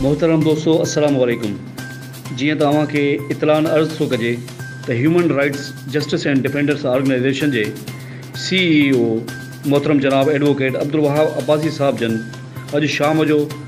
محترم دوستو السلام عليڪم جيئن ته اوهان کي اطلاعن عرض ٿو ڪجي ته human rights justice and defenders organization جي سي اي او محترم جناب ايڊووڪيٽ عبدالوهاب عباسي صاحب جن اڄ شام جو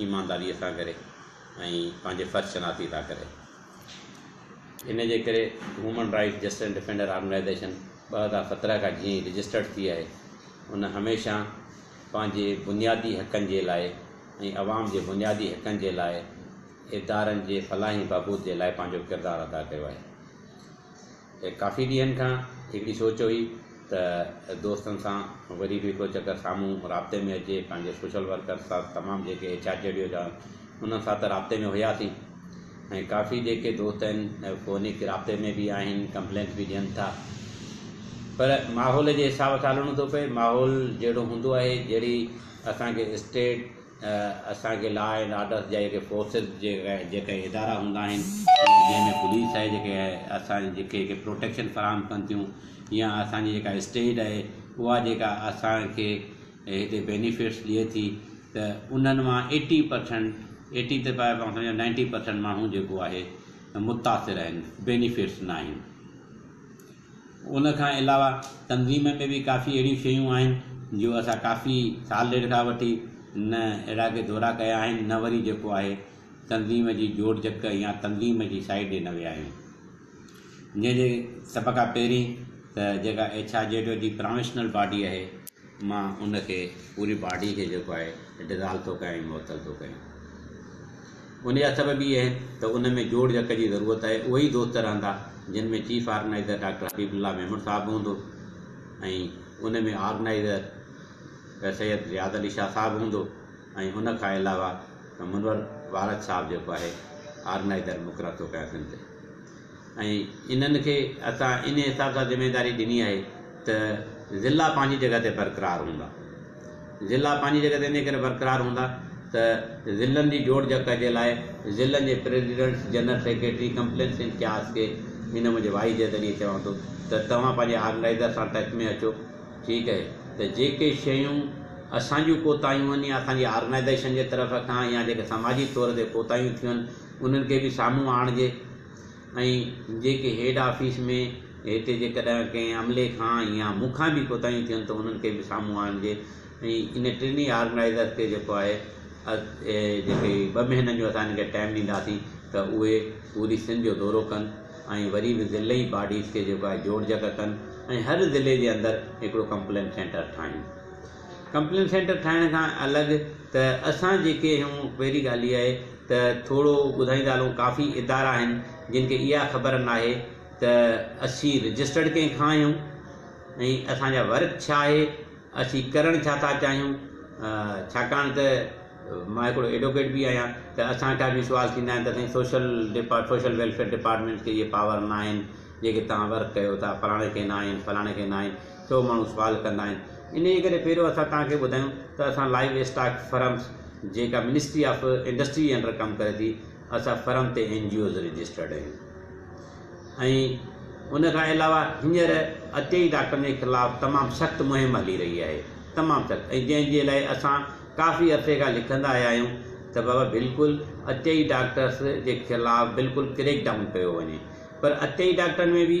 ايمانداريء سان ڪري ۽ پنهنجي فرض شناسي سان ڪري. ان جي ڪري human rights justice and defender organization ٻه هزار سترهن کان جيئن ئي رجسٽرڊ ٿي آهي، ان هميشه پنهنجي بنيادي حقن جي لاء ۽ عوام جي بنيادي حقن جي لاء ادارن جي فلاح ۽ بهبود جي لاء پنهنجو ڪردار ادا ڪيو آهي. ڪافي ڏينهن کان هڪڙي سوچ هئي ته دوستن سان وري به هڪڙو چڪر سامهون رابطي ۾ اچجي، پنهنجي سوشل ورڪرز سان تمام جيڪي ايڇ آر جي ڊي او جا انهن سان ته رابطي ۾ هياسين ۽ ڪافي جيڪي دوست آهن فوني رابطي ۾ به آهن ڪمپلينس به ڏين ٿا پر ماحول جي حساب سان هلڻو ٿو پئي ماحول جهڙو هوندو آهي جهڙي اسان کي اسٽيٽ اسان کي لا اينڊ آرڊر جا جيڪي فورسز جيڪي ادارا هوندا آهن جنهن ۾ پوليس آهي جيڪي اسان جي جيڪي پروٽيڪشن فراهم ڪن ٿيون يا اسان جي جيڪا اسٽيٽ آهي اها جيڪا اسان کي هتي بينيفٽس ڏئي ٿي ته انهن مان ايٽي پرسنٽ ايٽي ته پاڻ سمجهو نائنٽي پرسنٽ ماڻهو جيڪو آهي متاثر آهن بينيفٽس ناهن ان کان علاوه تنظيم ۾ به ڪافي اهڙيون شيون آهن جو اسان ڪافي سال ڏيڍ کان وٺي نه اهڙا ڪي دورا ڪيا آهن نه وري جيڪو آهي تنظيم جي جوڙ جڪ يا تنظيم جي سائيٽ ڏي نه ويا آهيون جنهن جي سڀ کان پهرين ته جيڪا ايڇ آر جي ڊو جي پراويشنل باڊي اهي مان ان کي پوري باڊي کي جيڪو آهي ڊزالو ٿو ڪيان ۽ معطل ٿو ڪيان انهي هٿ ۾ به اهي ته ان ۾ جوڙ جڪ جي ضرورت آهي اهي ئي دوست رهندا جن ۾ چيف آرگنائيزر ڊاڪٽر حبيب الله ميمڻ صاحب به هوندو ۽ ان ۾ آرگنائيزر سيد رياض علي شاهه صاحب هوندو ۽ ان کان علاوه منور وارد صاحب جيڪو آهي آرگنائيزر مقرر ٿو ڪيان سنڌ ۽ انهن کي اسان ان حساب سان ذميواري ڏني آهي ته ضلع پنهنجي جڳهه تي برقرار هوندا. ضلع پنهنجي جڳهه تي انهيء ڪري برقرار هوندا ته ضلعن جي جوڙجڪ جي لاء ضلعن جي presidents, general secretary, complaints in charge کي هن منهنجي وائيس جي ذريعي چوان ٿو ته توهان پنهنجي آرگنائيزر سان ٽچ ۾ اچو ٺيڪ اهي ته جيڪي شيون اسان جون ڪوتاهيون آهن يا اسان جي آرگنائيزيشن جي طرف کان يا جيڪي سماجي طور تي ڪوتاهيون ٿيون آهن انهن کي به سامهون آڻجي. ۽ جيڪي هيڊ آفيس ۾ هتي جيڪڏهن ڪنهن عملي کان يا مون کان به ڪوتاهيون ٿين ته انهن کي به سامهون آڻجي ۽ ان ٽنهي آرگنائيزر کي جيڪو آهي جيڪي هي ٻه مهينن جو اسان هن کي ٽائيم ڏينداسين ته اهي پوري سنڌ جو دورو ڪن ۽ وري به ضلعي باڊيز کي جيڪو آهي جوڙجڪ ڪن ۽ هر ضلعي جي اندر هڪڙو ڪمپلين سينٽر ٺاهيون. ڪمپلين سينٽر ٺاهڻ کان الڳ ته اسان جيڪي هيون پهرين ڳالهه اها آهي ته ٿورو ٻڌائيندا هلون ڪافي ادارا آهن جن کي اها خبر ناهي ته اسين رجسٽرڊ ڪنهن کان آهيون ۽ اسان جا ورڪ ڇا آهي اسين ڪرڻ ڇا ٿا چاهيون ڇاڪاڻ ته مان هڪڙو ايڊوڪيٽ به آهيان ته اسان کان به سوال ٿيندا آهن ته سائين سوشل ڊپا سوشل ويلفيئر ڊپارٽمينٽ کي اهي پاور ناهن جيڪي تهان ورڪ ڪيو ٿا فلاڻي کي ناهن فلاڻي کي ناهن ڇو ماڻهو سوال ڪندا آهن انهيء ڪري پهريون اسان توهان کي ٻڌايون ته اسان لائيو اسٽاڪ فرمز جيڪا منسٽري آف انڊسٽري جي انڊر ڪم ڪري ٿي اسان فرم تي اين جي اوز رجسٽرڊ آهيون ۽ ان کان علاوه هينئر عطيئي ڊاڪٽرن جي خلاف تمام سخت مهم هلي رهي آهي تمام سخت ۽ جنهن جي لاء اسان ڪافي عرصي کان لکندا آيا آهيون ته بابا بلڪل عطيئي ڊاڪٽرس جي خلاف بلڪل ڪريڪ ڊائون ڪيو وڃي پر عطيئي ڊاڪٽرن ۾ به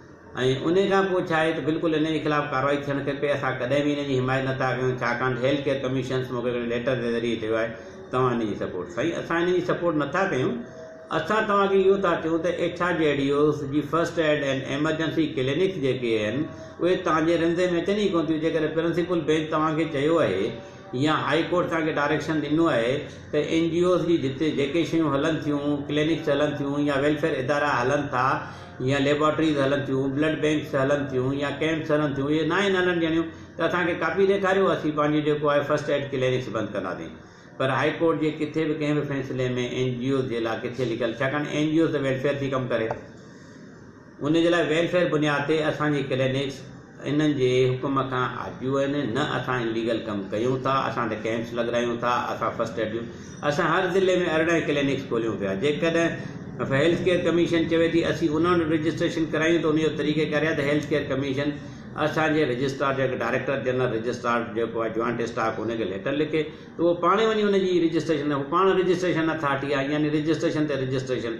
۽ انهي کان پوء ڇا آهي ته بلڪل انهي جي خلاف ڪارروائي ٿيڻ کپي، اسان ڪڏهن به انهي جي حمايت نه ٿا ڪيون ڇاڪاڻ ته هيلٿ ڪيئر ڪميشنز مون کي هڪڙي ليٽر جي ذريعي چيو آهي توهان انهي جي سپورٽ سائين اسان انهي جي سپورٽ نه ٿا ڪيون اسان توهان کي اهو ٿا چيون ته ايڇ آر جي ڊي اوز جي first aid and emergency clinics جيڪي آهن اهي توهان جي رنزي ۾ اچن ئي ڪونه ٿيون جيڪڏهن پرنسپل بينچ توهان کي چيو آهي يا هائي ڪورٽ توهان کي ڊائريڪشن ڏنو آهي ته اين جي اوز جي جتي جيڪي شيون هلن ٿيون ڪلينڪس هلن ٿيون يا ويلفيئر ادارا هلن ٿا يا ليبارٽريز هلن ٿيون بلڊ بينڪس هلن ٿيون يا ڪيمپس هلن ٿيون اهي ناهن هلڻ ڏيڻيون ته اسان کي ڪاپي ڏيکاريو اسين پنهنجي جيڪو آهي فرسٽ ايڊ ڪلينڪس بند ڪنداسين پر هائي ڪورٽ جي ڪٿي به ڪنهن به فيصلي ۾ اين جي اوز جي لا ڪٿي لکيل ڇاڪاڻ اين جي اوز ته ويلفيئر ٿي ڪم ڪري ان جي لاء ويلفيئر بنياد تي اسان جي ڪلينڪس انهن جي حڪم کان آجو آهن، نه اسان انليگل ڪم ڪيون ٿا، اسان ته ڪئمپس لڳرايون ٿا، اسان فرسٽ ايڊ ڏيون، اسان هر ضلعي ۾ ارڙهن ڪلينڪس کوليون پيا، جيڪڏهن هيلٿ ڪيئر ڪميشن چوي ٿي اسين انهن وٽ رجسٽريشن ڪرايون ته ان جو طريقيڪار يا ته هيلٿ ڪيئر ڪميشن اسان جي رجسٽرار جيڪو ڊائريڪٽر جنرل رجسٽرار جيڪو آهي جوائنٽ اسٽاڪ ان کي ليٽر لکي ته اهو پاڻ وڃي ان جي رجسٽريشن هو پاڻ رجسٽريشن اٿارٽي آهي يعني رجسٽريشن تي رجسٽريشن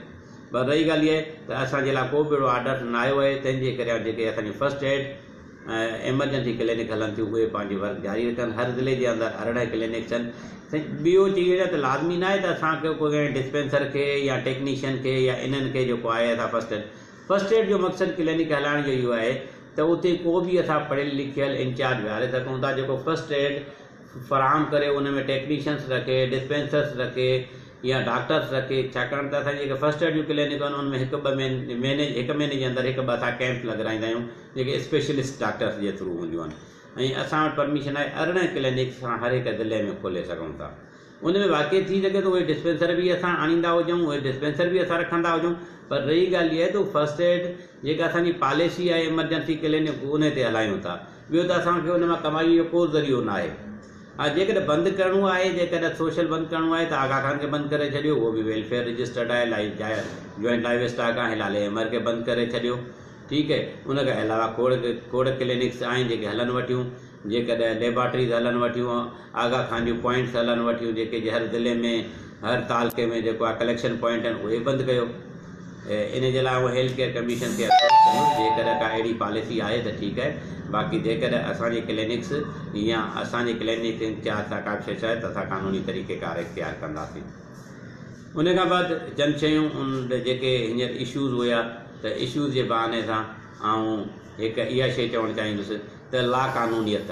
پر رهي ڳالهه اها ته اسان جي لاء ڪو به اهڙو آرڊر نه آيو آهي، تنهن جي ڪريان جيڪي اسان جون فرسٽ ايڊ ۽ ايمرجنسي ڪلينڪ هلن ٿيون اهي پنهنجي ورڪ جاري رکن، هر ضلعي جي اندر ارڙهن ڪلينڪ ٿين. ٻيو چي وڃان ته لازمي نه آهي ته اسان کي ڪو ڪنهن ڊسپينسر کي يا ٽيڪنيشن کي يا انهن کي جيڪو آهي اسان فرسٽ ايڊ فرسٽ ايڊ جو مقصد ڪلينڪ هلائڻ جو اهو آهي ته اتي ڪو به اسان پڙهيل لکيل انچارج ويهاري سگهون ٿا جيڪو فرسٽ ايڊ فراهم ڪري ان ۾ ٽيڪنيشنس رکي، ڊسپينسرس رکي يا ڊاڪٽرس رکي ڇاڪاڻ ته اسان جي جيڪي فرسٽ ايڊ جون ڪلينڪون آهن ان ۾ هڪ ٻه مهيني هڪ مهيني جي اندر هڪ ٻه اسان ڪيمپ لڳرائيندا آهيون جيڪي اسپيشلسٽ ڊاڪٽرس جي ٿرو هونديون آهن ۽ اسان وٽ پرميشن آهي ارڙهن ڪلينڪس اسان هر هڪ ضلعي ۾ کولي سگهون ٿا ان ۾ واقعي ٿي سگهي ٿو اهي ڊسپينسر به اسان آڻيندا هجون اهي ڊسپينسر به اسان رکندا هجون پر رهي ڳالهه اها ته فرسٽ ايڊ جيڪا اسان جي پاليسي آهي ايمرجنسي ڪلينڪ ان تي هلايون ٿا ٻيو ته اسان کي ان مان ڪمائيء جو ڪو ذريعو ناهي. ها جيڪڏهن بند ڪرڻو آهي، جيڪڏهن سوشل بند ڪرڻو آهي ته آغا خان کي بند ڪري ڇڏيو، اهو به ويلفيئر رجسٽرڊ آهي، لائيو جايا جوائنٽ لائيو اسٽاڪ آهي، لالي احمر کي بند ڪري ڇڏيو، ٺيڪ اهي، ان کان علاوه کوڙ کوڙ ڪلينڪس آهن جيڪي هلن وٺيون، جيڪڏهن ليبارٽريز هلن وٺيون، آغا خان جون پوائنٽس هلن وٺيون جيڪي جي هر ضلعي ۾. هر تعلقي ۾ جيڪو آهي ڪليڪشن پوائنٽ آهن اهي بند ڪيو ان جي لاء آئون هيلٿ ڪيئر ڪميشن کي اپروچ ڪندس جيڪڏهن ڪا اهڙي پاليسي آهي ته ٺيڪ آهي باقي جيڪڏهن اسان جي ڪلينڪس يا اسان جي ڪلينڪ انچارج سان ڪا به شيء چاهي ته اسان قانوني طريقي ڪار اختيار ڪنداسين ان کان بعد چند شيون ان جيڪي هينئر اشوز هيا ته اشوز جي بهاني سان آئون هڪ اها شيء چوڻ چاهيندس ته لا قانونيت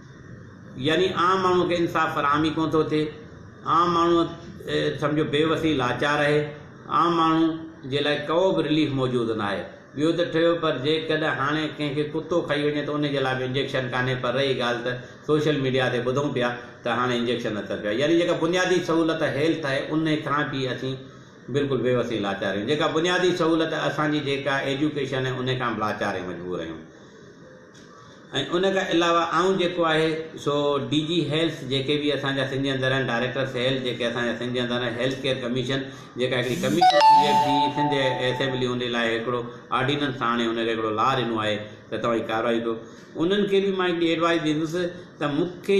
يعني عام ماڻهوء کي انصاف فراهم ئي ڪونه ٿو ٿئي. عام ماڻهوء سمجهو بي وسي لاچار آهي. عام ماڻهوء جي لاء ڪئو به رليف موجود ناهي. ٻيو ته ٺهيو پر جيڪڏهن هاڻي ڪنهن کي ڪتو کائي وڃي ته ان جي لاء به انجيڪشن ڪانهي پر رهي ڳالهه ته سوشل ميڊيا تي ٻڌون پيا ته هاڻي انجيڪشن اچن پيا. يعني جيڪا بنيادي سهولت هيلٿ آهي ان کان به اسين بلڪل بي وس ۽ لاچار آهيون. جيڪا بنيادي سهولت اسان جي جيڪا ايجوڪيشن آهي ان کان به لاچار ۽ مجبور آهيون. ان کان علاوه آئون جيڪو آهي سو ڊي جي هيلٿ جيڪي به اسان جا سنڌي اندر آهن ڊائريڪٽرس هيلٿ جيڪي اسان جا سنڌي اندر آهن هيلٿ ڪيئر ڪميشن جيڪا هڪڙي ڪميشن ٿي ٿي سنڌ اسيمبلي ان لاء هڪڙو آرڊيننس آڻي ان کي هڪڙو لا ڏنو آهي ته توهان هي ڪارروائي ڪيو انهن کي به مان هڪڙي ايڊوائز ڏيندس ته مون کي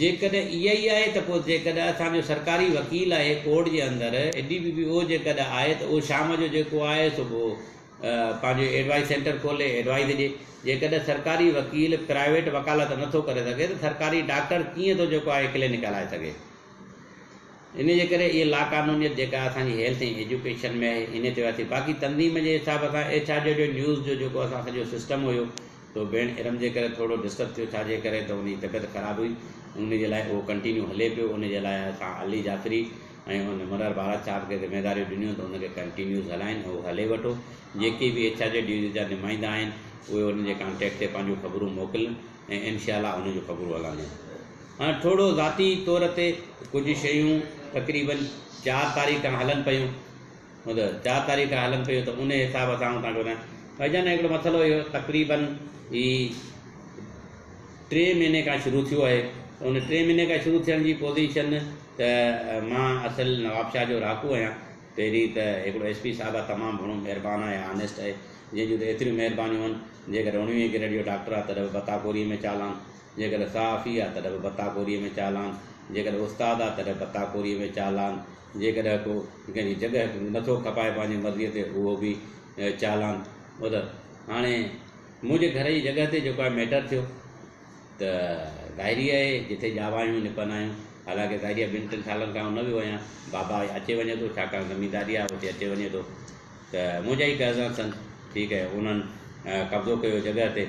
جيڪڏهن اها ئي آهي ته پوء جيڪڏهن اسان جو سرڪاري وڪيل آهي ڪورٽ جي اندر اي ڊي بي بي او جيڪڏهن آهي ته اهو شام جو جيڪو آهي سو پوء پنهنجو ايڊوائيز سينٽر کولي ايڊوائيز ڏي جيڪڏهن سرڪاري وڪيل پرائيويٽ وڪالت نه ٿو ڪري سگهي ته سرڪاري ڊاڪٽر ڪيئن ٿو جيڪو آهي ڪلينڪ هلائي سگهي ان جي ڪري اهي لاقانونيت جيڪا اسان جي هيلٿ ۽ ايجوڪيشن ۾ آهي ان تي وياسي باقي تنظيم جي حساب سان ايڇ آر جو جو نيوز جو جيڪو اسان سڄو سسٽم هيو تو ڀيڻ ارم جي ڪري ٿورڙو ڊسٽرب ٿيو ڇا جي ڪري ته ان جي طبيعت خراب هئي ان جي لاء اهو ڪنٽينيو هلي پيو ان جي لاء اسان علي جعفري ۽ ان مرر بارات صاحب کي ذميداريون ڏنيون ته ان کي ڪنٽينيوز هلائين ۽ اهو هلي وٺو جيڪي به ايڇ آر جي ڊيوزن جا نمائندا آهن اهي ان جي ڪانٽيڪٽ تي پنهنجون خبرون موڪلن ۽ انشاء الله ان جون خبرون هلنديون هاڻ ٿورڙو ذاتي طور تي ڪجهه شيون تقريبن چار تاريخ کان هلن پيون هوند چار تاريخ کان هلن پيون ته انهي حساب سان آئون توهان کي ٻڌايان. ڀائي جان هڪڙو مسئلو اهو تقريباً هي ٽي مهيني کان شروع ٿيو آهي ته ان ٽي مهيني کان شروع ٿيڻ جي پوزيشن ته مان اصل نوابشاهه جو رهاڪو آهيان پهرين ته هڪڙو ايس پي صاحب تمام گهڻو مهربان آهي آنيسٽ آهي جنهن جون ته ايتريون مهربانيون آهن جيڪڏهن اڻويهين گريڊ جو ڊاڪٽر آهي تڏهن به بتا ڪوري ۾ چالان جيڪڏهن صحافي آهي تڏهن به بتا ڪوري ۾ چالان جيڪڏهن استاد آهي تڏهن به بتا ڪوري ۾ چالان جيڪڏهن ڪو ڪنهن جي جڳهه کي نٿو کپائي پنهنجي مرضيء تي اهو به چالان ٻڌل هاڻي منهنجي گهر جي جڳهه تي جيڪو آهي ميٽر ٿيو ته ظاهري آهي جتي ڄاوايون نپنايون حالانڪه ظاهري ٻن ٽن سالن کان نه ويو آهيان بابا اچي وڃي ٿو ڇاڪاڻ زمينداري آهي اتي اچي وڃي ٿو ته منهنجا ئي قرضان سن ٺيڪ آهي انهن قبضو ڪيو جڳهه تي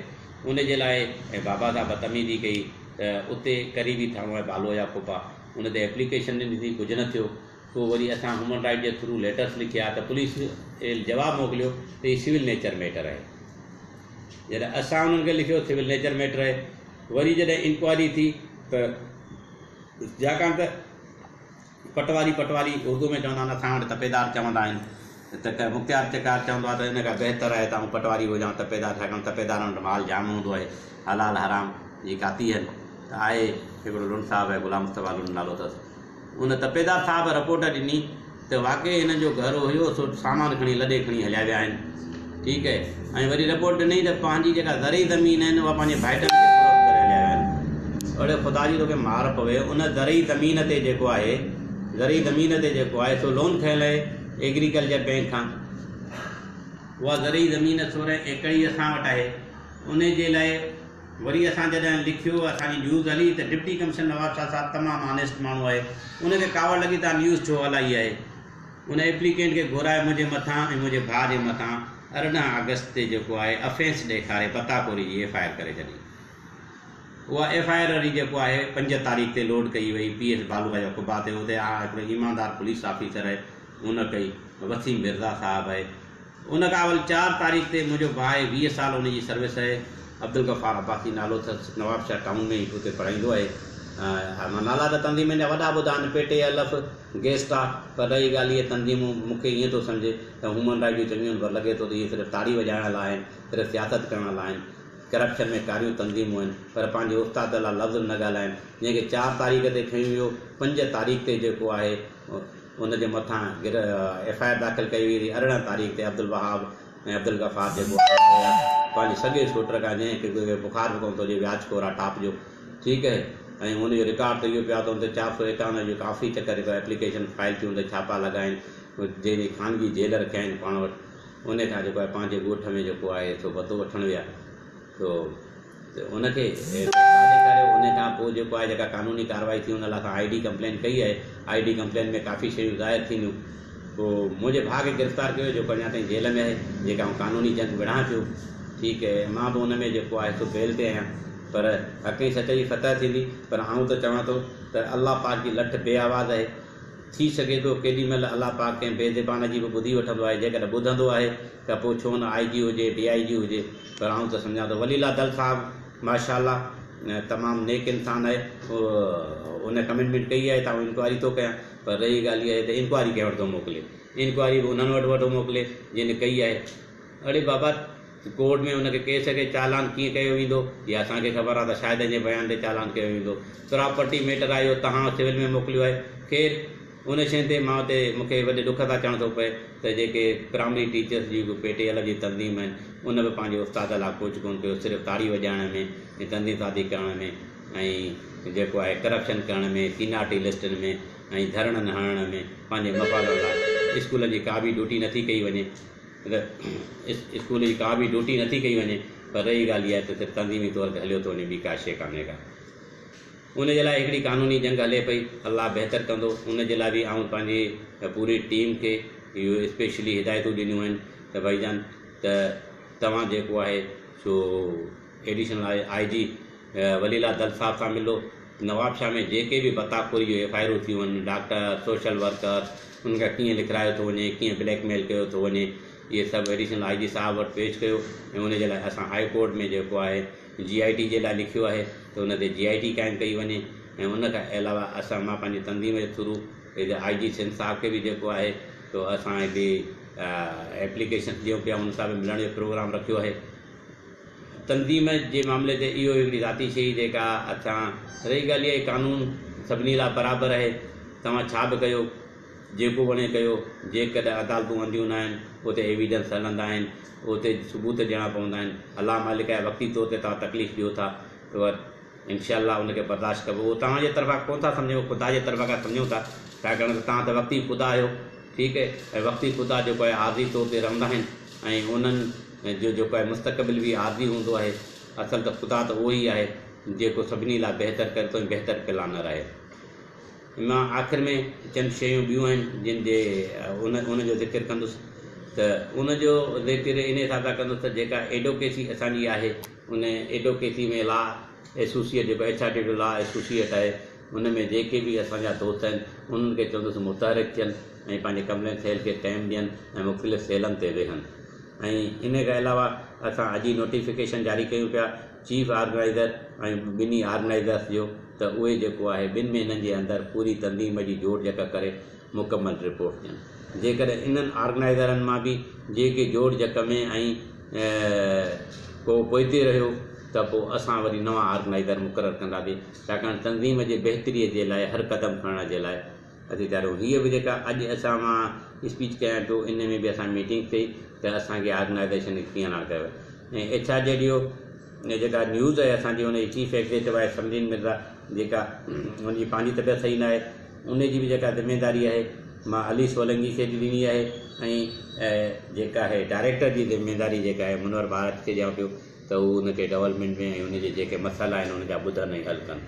ان جي لاء بابا سان بدتميزي ڪئي ته اتي قريبي ٿانو آهي بالو يا ڦوپا ان تي ايپليڪيشن ڏني ٿي ڪجهه نه ٿيو پوء وري اسان هيومن رائيٽ جي ٿرو ليٽرس لکيا ته پوليس ايل جواب موڪليو ته هي سول نيچر ميٽر آهي جڏهن اسان انهن کي لکيو سول نيچر ميٽر آهي وري جڏهن انڪوائري ٿي ته جاڪان ته پٽواري پٽواري اردو ۾ چوندا آهن اسان وٽ تپيدار چوندا آهن ته ڪنهن مختيار چڪار چوندو آهي ته ان کان بهتر آهي ته آئون پٽواري هجان تپيدار ڇاڪاڻ تپيدارن وٽ مال جام هوندو آهي حلال حرام جي ڪاتي هن ته آهي هڪڙو لنڊ صاحب آهي غلام مصطفيٰ لنڊ نالو اٿس ان تپيدار صاحب رپورٽ ڏني ته واقعي هنن جو گهر هيو سو سامان کڻي لڏي کڻي هليا ويا آهن ٺيڪ آهي ۽ وري رپورٽ ڏني ته پنهنجي جيڪا زرعي زمين آهن اها پنهنجي ڀائٽن کي فروخت ڪري هليا ويا آهن اڙي خدا جي توکي مار پوي ان زرعي زمين تي جيڪو آهي زرعي زمين تي جيڪو آهي سو لون کنئن لئي ايگريڪلچر بئنڪ کان اها زرعي زمين سورهن ايڪڙ ئي اسان وٽ آهي، انهي جي لاء وري اسان جڏهن لکيو اسان جي نيوز هلي ته ڊپٽي ڪمشنر نواب شاهه صاحب تمام آنيسٽ ماڻهو آهي، ان کي ڪاوڙ لڳي ته آء نيوز ڇو هلائي آهي، ان ايپليڪينٽ کي گهرائي منهنجي مٿان ۽ منهنجي ڀاء جي مٿان ارڙهن آگسٽ تي جيڪو آهي افينس ڏيکاري پتاخوري جي ايف آء آر ڪري ڇڏي. اها ايف آء آر وري جيڪو آهي پنج تاريخ تي لوڊ ڪئي وئي پي ايس بالغ جا قبا تي اتي آء هڪڙو ايماندار پوليس آفيسر آهي ان ڪئي وسيم مرزا صاحب آهي ان کان اول چار تاريخ تي منهنجو ڀاء آهي ويهه سال ان جي سروس آهي عبدالغفار عباسي نالو اٿس نواب شاهه ٽائون ۾ اتي پڙهائيندو آهي ها نالا ته تنظيمن جا وڏا ٻڌا آهن پيٽي الف گيسٽا پر رهي ڳالهه اهي تنظيمون مون کي ائين ٿو سمجهي ته هيومن رائيٽ جون چڱيون آهن پر لڳي ٿو ته اهي صرف تاڙي وڄائڻ لاء آهن صرف سياست ڪرڻ لاء آهن ڪرپشن ۾ ڪاريون تنظيمون آهن پر پنهنجي استاد لا لفظ به نه ڳالهائن جنهن کي چار تاريخ تي کنيو ويو پنج تاريخ تي جيڪو آهي ان جي مٿان ايف آء آر داخل ڪئي وئي هئي ارڙهن تاريخ تي عبدالوهاب ۽ عبدالغفار جيڪو آهي پنهنجي سڳي شوٽر کان جنهن کي ڪوئي بخار به ڪونه ٿو اچي وياج ڪورا ٽاپ جو ٺيڪ اهي ۽ ان جو رڪارڊ ته اهو پيو آهي ته ان تي چار سؤ ايڪاونجاهه جيڪو آفيس چڪر ايپليڪيشن فائل ٿيون تي ڇاپا لڳاين جنهن جي خانگي جيل رکيا آهن پاڻ وٽ انهيء کان جيڪو آهي پنهنجي ڳوٺ ۾ جيڪو آهي سو بتو وٺڻ ويا سو ان کي گرفتار به ڪريو انهيء کان پوء جيڪو آهي جيڪا قانوني ڪارروائي ٿي ان لاء اسان آئي ڊي ڪمپلين ڪئي آهي آئي ڊي ڪمپلين ۾ ڪافي شيون ظاهر ٿينديون پوء منهنجي ڀاء کي گرفتار ڪيو ويو جيڪو اڃا تائين جيل ۾ آهي جيڪي آئون قانوني جنگ وڙهان پيو ٺيڪ اهي مان به ان ۾ جيڪو آهي سو بيل تي آهيان پر حق ۽ سچ جي فتح ٿيندي پر آئون ته چوان ٿو ته الله پاڪ جي لٺ بي آواز اهي. ٿي سگهي ٿو ڪيڏي مهل الله پاڪ ڪنهن بي زبان جي به ٻڌي وٺندو آهي، جيڪڏهن ٻڌندو آهي ته پوء ڇو نه آء جي هجي، ڊي آء جي هجي، پر آئون ته سمجهان ٿو ولي الله دل صاحب ماشاء الله تمام نيڪ انسان آهي، ان ڪميٽمينٽ ڪئي آهي ته آئون انڪوائري ٿو ڪيان، پر رهي ڳالهه اها ته انڪوائري ڪنهن وٽ ٿو موڪلي، انڪوائري به انهن وٽ وٺو موڪلي جن ڪئي آهي، اڙي بابا ته ڪورٽ ۾ ان کي ڪيس کي چالان ڪيئن ڪيو ويندو اها اسان کي خبر آهي ته شاهدن جي بيان تي چالان ڪيو ويندو پراپرٽي ميٽر آهي اهو تهان سول ۾ موڪليو آهي خير ان شين تي مان اتي مون کي وڏي ڏک سان چوڻ ٿو پئي ته جيڪي پرائمري ٽيچرس جي به پي ٽي ايل جي تنظيم آهن ان به پنهنجي استاد لاء ڪجهه ڪونه ڪيو صرف تاڙي وڄائڻ ۾ ۽ تنظيم سازي ڪرڻ ۾ ۽ جيڪو آهي ڪرپشن ڪرڻ ۾ سينارٽي لسٽن ۾ ۽ ڌرڻن هڻڻ ۾ پنهنجي مفاد لاء اسڪولن جي ڪا به ڊيوٽي نٿي ڪئي وڃي اگر اسڪول جي ڪا به ڊوٽي نٿي ڪئي وڃي پر رهي ڳالهه اها ته صرف تنظيمي طور تي هليو ٿو وڃي ٻي ڪا شيء ڪانهي ڪا ان جي لاء هڪڙي قانوني جنگ هلي پئي الله بهتر ڪندو ان جي لاء به آئون پنهنجي پوري ٽيم کي اهو اسپيشلي هدايتون ڏنيون آهن ته ڀائي جان ته توهان جيڪو آهي سو ايڊيشنل آء جي ولي الله دل صاحب سان ملو، نوابشاهه ۾ جيڪي به بتا خوري جون ايف آء آرون ٿيون آهن، ڊاڪٽر، سوشل ورڪر، انهن کي ڪيئن لکرايو ٿو وڃي، ڪيئن بليڪ ميل ڪيو ٿو وڃي، اهي سڀ ايڊيشنل آء جي صاحب وٽ پيش ڪيو ۽ ان جي لاء اسان هاء ڪورٽ ۾ جيڪو آهي جي آء ٽي جي لاء لکيو آهي ته ان تي جي آء ٽي قائم ڪئي وڃي ۽ ان کان علاوه اسان مان پنهنجي تنظيم جي ٿرو آء جي سنڌ صاحب کي به جيڪو آهي سو اسان هڪڙي ايپليڪيشن ڏيون پيا ان سان به ملڻ جو پروگرام رکيو آهي. تنظيم جي معاملي تي اهو هڪڙي ذاتي شيء جيڪا اٿان رهي ڳالهه اهي قانون سڀني لاء برابر اهي توهان ڇا به ڪيو جيڪو وڻي ڪيو جيڪڏهن عدالتون انڌيون نه آهن اتي ايويڊنس هلندا آهن اتي ثبوت ڏيڻا پوندا آهن الله مالڪ آهي وقتي طور تي توهان تڪليف ڏيو ٿا پر انشاء الله ان کي برداشت ڪبو اهو توهان جي طرفان ڪونه ٿا سمجهون اهو خدا جي طرفان کان سمجهون ٿا ڇاڪاڻ ته توهان ته وقتي خدا آهيو ٺيڪ ۽ وقتي خدا جيڪو آهي عارضي طور تي رهندا آهن ۽ انهن جو جيڪو آهي مستقبل به عارضي هوندو آهي اصل ته خدا ته اهو ئي آهي جيڪو سڀني لاء بهتر ڪري ٿو ۽ بهتر پلانر آهي. ان مان آخر ۾ چند شيون ٻيون آهن جن جي ان جو ذڪر ڪندس ته ان جو ذڪر ان حساب سان ڪندس ته جيڪا ايڊوڪيسي اسان جي آهي ان ايڊوڪيسي ۾ لا ايسوسيئيٽ جيڪو H R D law associate آهي ان ۾ جيڪي به اسان جا دوست آهن انهن کي چوندس متحرڪ ٿين ۽ پنهنجي ڪملين سيل کي ٽائيم ڏين ۽ مختلف سيلن تي ويهن ۽ ان کان علاوه اسان اڄ ئي نوٽيفڪيشن جاري ڪيون پيا چيف آرگنائيزر ۽ ٻنهي آرگنائيزرس جو ته اهي جيڪو آهي ٻن مهينن جي اندر پوري تنظيم جي جوڙجڪ ڪري مڪمل رپورٽ ڏين جيڪڏهن انهن آرگنائيزرن مان به جي ڪي جوڙجڪ ۾ ۽ ڪو پوئتي رهيو ته پوء اسان وري نوان آرگنائيزر مقرر ڪنداسين ڇاڪاڻ تنظيم جي بهتري جي لاء هر قدم کڻڻ جي لاء اچي چارو هيء به جيڪا اڄ اسان مان اسپيچ ڪيان ٿو ان ۾ به اسان ميٽنگ ٿئي ته اسان کي آرگنائيزيشن کي ڪيئن اڻا ڪيو ويو ۽ ايڇ آر جي ڊي او جيڪا نيوز آهي اسان جي ان جي چيف ايگزيڪٽو آهي سمرين مرزا جيڪا ان جي پنهنجي طبيعت صحيح نه آهي ان جي به جيڪا ذميداري آهي مان علي سولنگي کي به ڏني آهي ۽ جيڪا آهي ڊائريڪٽر جي ذميداري جيڪا آهي منور ڀارت کي ڏيان پيو ته هو ان کي ڊولپمينٽ ۾ ۽ ان جي جيڪي مسئلا آهن ان جا ٻڌن ۽ حل ڪن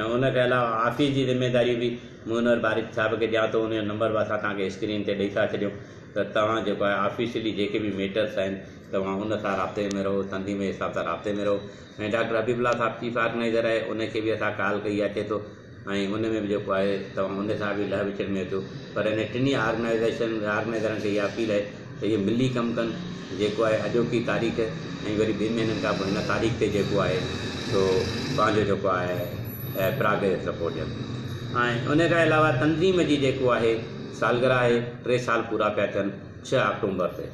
۽ ان کي علاوه آفيس جي ذميداريون به مونر بارڪ صاحب کي ڏيان ٿو ان جو نمبر به اسان توهان کي اسڪرين تي ڏئي ٿا ڇڏيون ته توهان جيڪو آهي آفيشلي جيڪي به ميٽرس آهن توهان ان سان رابطي ۾ رهو سنڌي مين صاحب سان رابطي ۾ رهو ۽ ڊاڪٽر حبيب الله صاحب چيف آرگنائيزر آهي ان کي به اسان ڪال ڪئي اچي ٿو ۽ ان ۾ به جيڪو آهي توهان ان سان به لهه وچڙ ۾ اچو پر انهن ٽنهي آرگنائيزيشن آرگنائيزرن کي اها اپيل آهي ته اهي ملي ڪم ڪن جيڪو آهي اڄوڪي تاريخ ۽ وري ٻن مهينن کان پوء هن تاريخ تي جيڪو آهي سو پنهنجو جيڪو آهي پراگريس رپورٽ ڏين ۽ ان کان علاوه تنظيم جي جيڪو آهي سالگرهه آهي ٽي سال پورا پيا ٿين ڇهه آڪٽومبر تي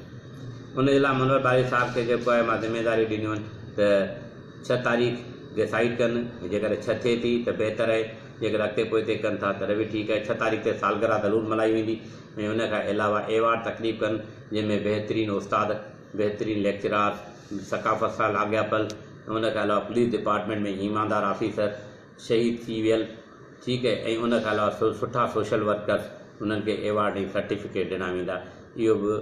ان جي لاء منور ٻاري صاحب کي جيڪو آهي مان ذميواريون ڏنيون آهن ته ڇهه تاريخ ڊيسائيڊ ڪن ۽ جيڪڏهن ڇهه ٿئي ٿي ته بهتر آهي، جيڪڏهن اڳتي پوئتي ڪن ٿا تڏهن به ٺيڪ آهي، ڇهه تاريخ تي سالگرهه ضرور ملهائي ويندي ۽ ان کان علاوه ايوارڊ تقريب ڪن جنهن ۾ بهترين استاد، بهترين ليڪچرار، ثقافت سان لاڳاپيل ۽ ان کان علاوه پوليس ڊپارٽمينٽ ۾ ايماندار آفيسر، شهيد ٿي ويل ٺيڪ ۽ ان کان علاوه سٺا سوشل ورڪرز انهن کي ايوارڊ ۽ سرٽيفڪيٽ ڏنا ويندا اهو به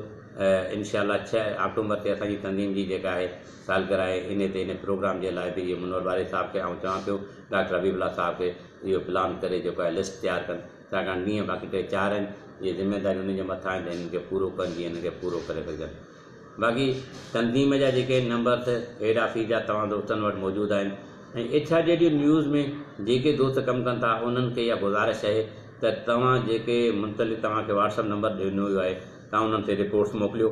انشاء الله ڇهه آڪٽومبر تي اسان جي تنظيم جي جيڪا آهي سالگرهه آهي انهي تي انهي پروگرام جي لاء به اهي منور واري صاحب کي آئون چوان پيو ڊاڪٽر حبيب الله صاحب کي اهو پلان ڪري جيڪو آهي لسٽ تيار ڪن ڇاڪاڻ ڏينهن باقي ٽي چار آهن اهي ذميواريون انهن جي مٿان آهن ته انهن کي پورو ڪن جيئن انهن کي پورو ڪري سگهجن باقي تنظيم جا جيڪي نمبر تھ ھيڊ آفيس جا توھان دوستن وٽ موجود آھن ۽ ايڇ آر جي ڊي نيوز ۾ جيڪي دوست ڪم ڪن ٿا انھن کي اھا گذارش اھي تھ توھان جيڪي منتقل توھان کي واٽس اپ نمبر ڏنو ويو آھي توھان انھن تي رپورٽس موڪليو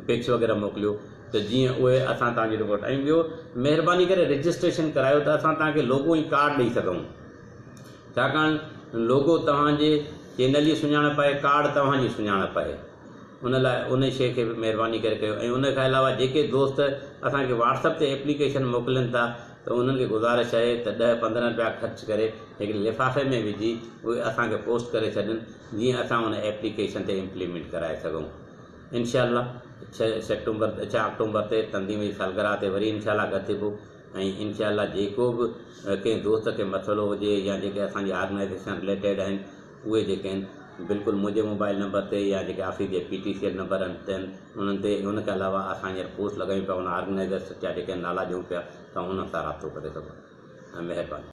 پڪس وغيره موڪليو تھ جيئن اھي اسان توھان جي رپورٽ ۽ ٻيو مھرباني ڪري رجسٽريشن ڪرايو تھ اسان توھان کي لوگو ۽ ڪارڊ ڏئي سگھون ڇاڪاڻ لوگو توھان جي چينل جي سڃاڻپ آھي ڪارڊ توھان جي سڃاڻپ آھي. ان لاء انهي شيء کي به مهرباني ڪري ڪيو ۽ ان کان علاوه جيڪي دوست اسان کي واٽس اپ تي ايپليڪيشن موڪلين ٿا ته انهن کي گذارش آهي ته ڏهه پندرهن رپيا خرچ ڪري هڪڙي لفافي ۾ وجهي اهي اسان کي پوسٽ ڪري ڇڏين جيئن اسان ان ايپليڪيشن تي امپليمينٽ ڪرائي سگهون انشاء الله ڇهه سيپٽمبر ڇهه آڪٽومبر تي تنظيم جي سالگرهه تي وري انشاء الله گڏ ٿبو ۽ انشاء الله جيڪو به ڪنهن دوست کي مسئلو هجي يا جيڪي اسان جي آرگنائيزيشن رليٽيڊ آهن اهي جيڪي آهن بلڪل منهنجي موبائل نمبر تي يا جيڪي آفيس جي P T C L number آهن تن انهن تي ان کان علاوه اسان هينئر پوسٽ لڳايون پيا ان آرگنائيزرس جا جيڪي نالا ڏيون پيا توهان انهن سان رابطو ڪري سگهو ٿا مهرباني.